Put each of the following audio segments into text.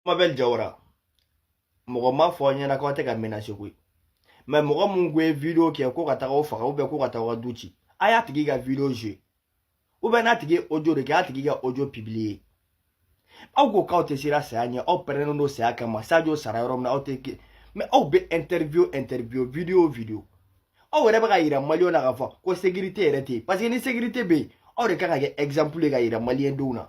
bubu mabel jawara mɔgɔ ma fɔ an ɲɛna k'aw tɛ ka menacer koyi mais mɔgɔ mun ko ye video kɛ ko ka taga o faga ou bien ko ka taa aw ka du ci a y'a tigi ka video jouer ou bien n'a tigi ye audio de kɛ a tigi ka audio publier aw ko k'aw tɛ siran saya ɲɛ aw pɛrɛnnen don saya kama sajo sara yɔrɔ min na aw tɛ mais aw bɛ interview interview video video aw yɛrɛ bɛ ka yira maliyɛnw na k'a fɔ ko sécurité yɛrɛ tɛ yen parce que ni sécurité bɛ yen aw de kan ka kɛ exemple ye ka yira maliyɛndenw na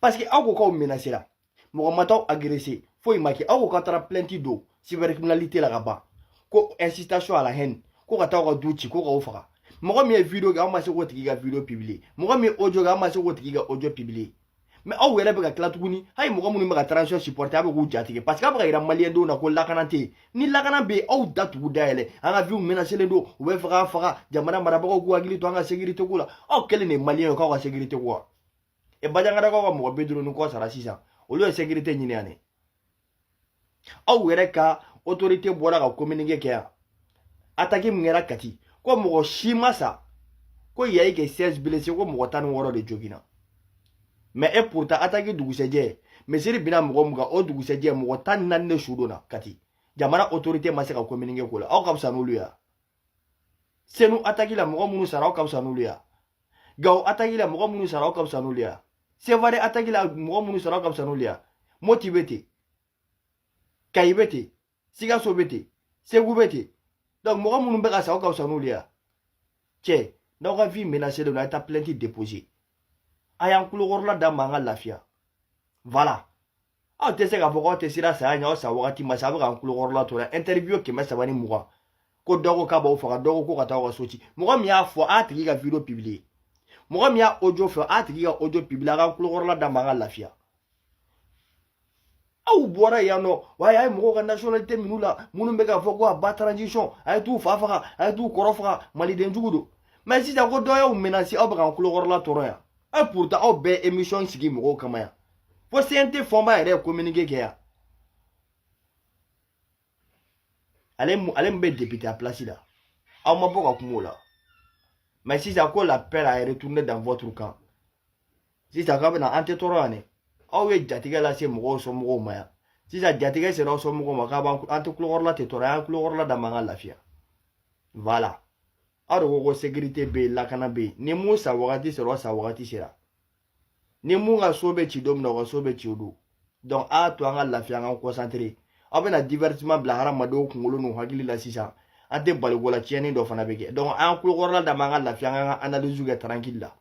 parce que aw ko k'aw menacera mɔgɔ ma t'aw agresser foyi ma kɛ aw ko k'aw taara plainte don cybercriminalité la ka ban ko incitation à la haine ko ka taa aw ka du ci ko k'aw faga mɔgɔ min ye video kɛ aw ma se k'o tigi ka video publier mɔgɔ min ye audio kɛ aw ma se k'o tigi ka audio publier mais aw yɛrɛ bɛ ka tila tuguni hali mɔgɔ minnu bɛ ka transition supporter aw bɛ k'u jatigɛ parce que aw bɛ ka yira maliyɛndenw na ko lakana tɛ yen ni lakana bɛ yen aw da tugu dayɛlɛ an ka vie menacélen don u bɛ fɛ k'an faga jamana marabagaw k'u hakili to an ka sécurité ko la aw kelen de ye maliyɛn ye k'aw ka sécurité ko wa e banjagarakaw ka mɔgɔ bi duuru ni kɔ sara sisan olu ye sécurité ɲini yan ne aw yɛrɛ ka autorité bɔra ka communiqué kɛ yan ataki min kɛra kati ko mɔgɔ si ma sa ko il y a eu que 16 blessés ko mɔgɔ tan ni wɔɔrɔ de joginna mais et pourtant ataki dugusɛjɛ misiri binna mɔgɔ mun kan o dugusɛjɛ mɔgɔ tan ni naani ne su donna kati jamana autorité ma se ka communiqué k'o la aw ka fisa n'olu ya senu ataki la mɔgɔ minnu sara aw ka fisa n'olu ya gawo ataki la mɔgɔ minnu sara aw ka fisa n'olu ya sevare ataki la mɔgɔ minnu sara aw ka fisa n'olu ya moti bɛ ten kayi bɛ ten sikaso bɛ ten segu bɛ ten donc mɔgɔ minnu bɛ ka sa aw ka fisa n'olu ye cɛ n'aw ka vie menacé don a ye taa plainte déposer a y'an kulokɔrɔla d'an ma an ka lafiya voilà aw tɛ se k'a fɔ k'aw tɛ siran saya ɲɛ aw sa wagati ma se a bɛ k'an kulokɔrɔla tɔɔrɔ interview kɛmɛ saba ni mugan ko dɔ ko k'a b'aw faga dɔ ko ko ka taa aw ka so ci mɔgɔ min y'a fɔ a tigi ka video publier mɔgɔ min y'a audio kɛ a tigi ka audio publier a k'an kulokɔrɔla d'an ma an ka lafiya aw bɔra yan nɔ wa a ye mɔgɔw ka nationalité minɛ u la minnu bɛ k'a fɔ ko à bas transition a ye t'u fa faga a ye t'u kɔrɔ faga maliden jugu don mais sisan ko dɔ y'aw menacer aw bɛ k'an kulokɔrɔla tɔɔrɔ yan et pourtant aw bɛ émission sigi mɔgɔw kama yan fo CNT fonba yɛrɛ ye communiqué kɛ yan ale ale min bɛ député a place la aw ma bɔ ka kuma o la mais sisan ko la peur a retourné dans votre camp sisan k'a bɛna an tɛ tɔɔrɔ yan dɛ aw ye jatigɛ lase mɔgɔw somɔgɔw ma yan sisan jatigɛ sera aw somɔgɔw ma k'a b'an an tɛ kulokɔrɔla tɛ tɔɔrɔ an kulokɔrɔla d'an m'an ka lafiya voilà aw de ko ko sécurité bɛ yen lakana bɛ yen ni mun sa wagati sera o sa wagati sera ni mun ka so bɛ ci don min na o ka so bɛ ci o don donc a to an ka lafiya an ka concentrer aw bɛna divertissement bila hadamadenw kunkolo n'u hakili la sisan an tɛ bali ko la tiɲɛni dɔ fana bɛ kɛ donc an kulokɔrɔla d'an m'an ka lafiya an ka analyse kɛ tranquille la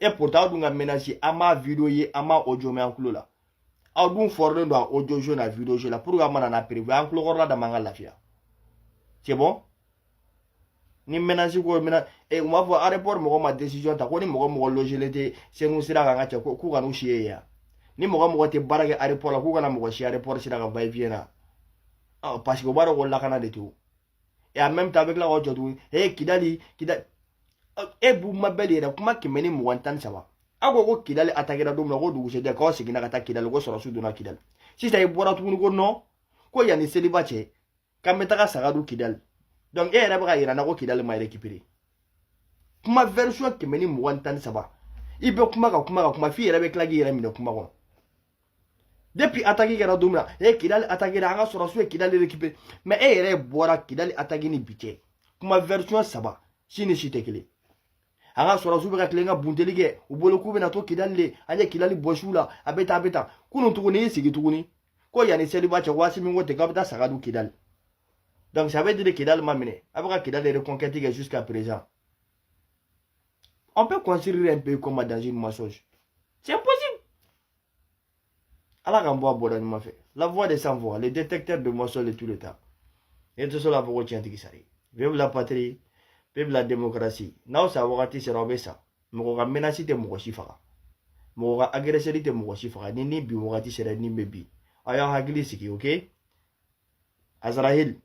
et pourtant aw dun ka menace an m'a video ye an m'a audio mɛn an tulo la aw dun fɔrilen don a audio jeu ni video jeu la pour que an mana na preuve an tulo kɔrɔla dama an ka lafiya c'est bon ni menace ko mun na e u m'a fɔ aéroport mɔgɔ ma décision ta ko ni mɔgɔ mɔgɔ logelen tɛ senu sira kan ka cɛ k'u kana u si ye yan ni mɔgɔ mɔgɔ tɛ baara kɛ aéroport la k'u kana mɔgɔ si aéroport sira kan va et vient na parce que u b'a dɔn ko lakana de t'o et en même temps avec la roche jɔcogo ee kidali kidali e bubu mabɛli yɛrɛ kuma kɛmɛ ni mugan tan ni saba aw ko ko kidali atakira don min na ko dugusɛjɛ k'aw seginna ka taa kidali ko sɔrɔsiw donna kidali sisan i bɔra tuguni ko non ko yanni seliba cɛ k'an bɛ taga saga dun kidali donc e yɛrɛ bɛ ka yira n na ko kidali ma récupérer kuma version kɛmɛ ni mugan tan ni saba i bɛ kuma ka kuma ka kuma f'i yɛrɛ bɛ tila k'i yɛrɛ minɛ kuma kɔnɔ depuis ataki kɛra don min na e kidali ataki la an ka sɔrɔsiw ye kidali récupéré mais e yɛrɛ bɔra kidali ataki ni bi cɛ kuma version saba si ni si tɛ kelen an ka sɔrɔsiw bɛ ka tilen ka bunteli kɛ u bolo k'u bɛna to kidali de an ye kidali bɔsi u la a bɛ tan a bɛ tan kunun tuguni y'i sigi tuguni ko yanni seliba cɛ waati min ko ten k'a bɛ taa saga dun kidali donc ça veut dire kidali ma minɛ a bɛ ka kidali reconquête kɛ jusqu'à présent on peut construire un pays comme dans une mensonge c'est impossible ala k'an bɔ a bɔda ɲuman fɛ la voix des sans voix le détecteur de mensonges de tout le temps e tɛ se k'a fɔ ko tiɲɛtigi sara ye vive la patrie vive la démocratie n'aw sa wagati sera aw bɛ sa mɔgɔ ka menace tɛ mɔgɔ si faga mɔgɔ ka agresseur tɛ mɔgɔ si faga ni ni bi wagati sera ni bɛ bi aw y'aw hakili sigi ok azarahil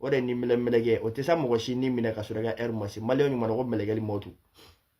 o de ni minɛ mɛlɛkɛ o tɛna mɔgɔ si ni minɛ ka sɔrɔ i ka heure ma se maliyɛn ɲuman na ko mɛlɛkɛli mɔtu